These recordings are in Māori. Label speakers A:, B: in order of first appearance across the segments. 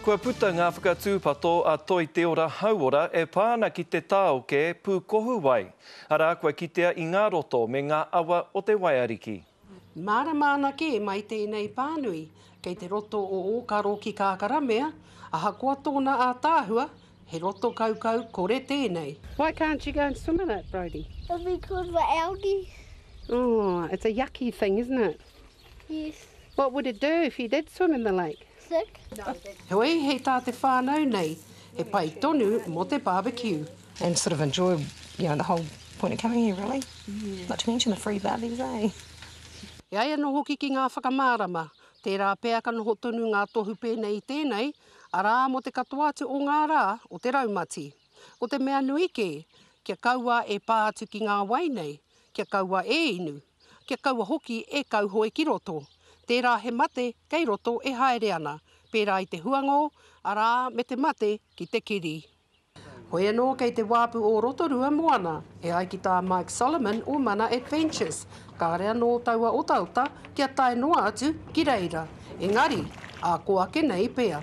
A: Kua puta ngā whakatūpato a Toi Te Ora Hauora e pā ana ki te tāoke pūkohu wai, arā kua kitea i ngā roto me ngā awa o te Waiariki. Mārama ana
B: kē mai tēnei pānui kei te roto o Ōkaro ki Kākaramea, ahakoa tōna ātaahua, he roto kaukau kore tēnei. Why can't you go and
C: swim in it, Brody? It'll be good for
D: algae. Oh,
C: it's a yucky thing, isn't it? Yes.
D: What would it do
C: if you did swim in the lake?
D: Heoi, hei
B: tā te whānau nei, he pai tonu mō te barbecue. And sort of enjoy,
E: you know, the whole point of coming here really. Not to mention the free barbies, eh? E ai
B: anō hoki ki ngā whakamārama, tērā pea ka noho tonu ngā tohu pēnei i tēnei, arā, mō te katoa atu o ngā rā o te raumati. Ko te mea nui kē, kia kaua e pā atu ki ngā wai nei, kia kaua e inu. Kia kaua hoki e kauhoe ki roto. Tērā he mate kei roto e haere ana, pērā i te huangō, arā, me te mate ki te kiri. Hoi anō kei te wāpu o Rotorua moana, e ai ki tā Mike Solomon o Mana Adventures, kāre anō taua otaota kia tae noa atu ki reira. Engari, ā, kō ake nei pea.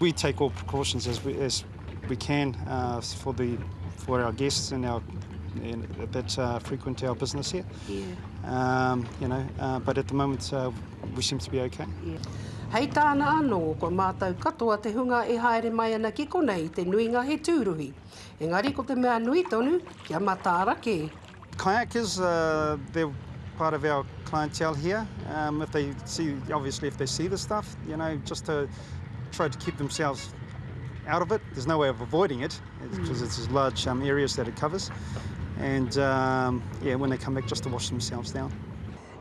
B: We take all
F: precautions as we as we can uh, for the for our guests and our and that uh, frequent our business here. Yeah. Um, you know, uh, but at the moment uh, we seem to be okay. Yeah. Hei
B: tāna anō, ko mātou katoa te hunga e haere mai ana ki konei te nuinga he tūruhi. Engari ko te mea nui tonu, kia matāra kē. Kayakers,
F: they're part of our clientele here, if they see, obviously if they see this stuff, you know, just to try to keep themselves out of it, there's no way of avoiding it, because it's as large areas that it covers, and yeah, when they come back just to wash themselves down.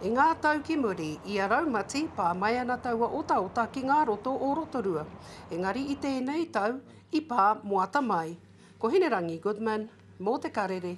F: I ngā tau
B: ki muri, i a Raumati, pā mai ana taua otaota ki ngā roto o Rotorua. Engari i tēnei tau, i pā moata mai. Ko Hinerangi Goodman, mō Te Karere.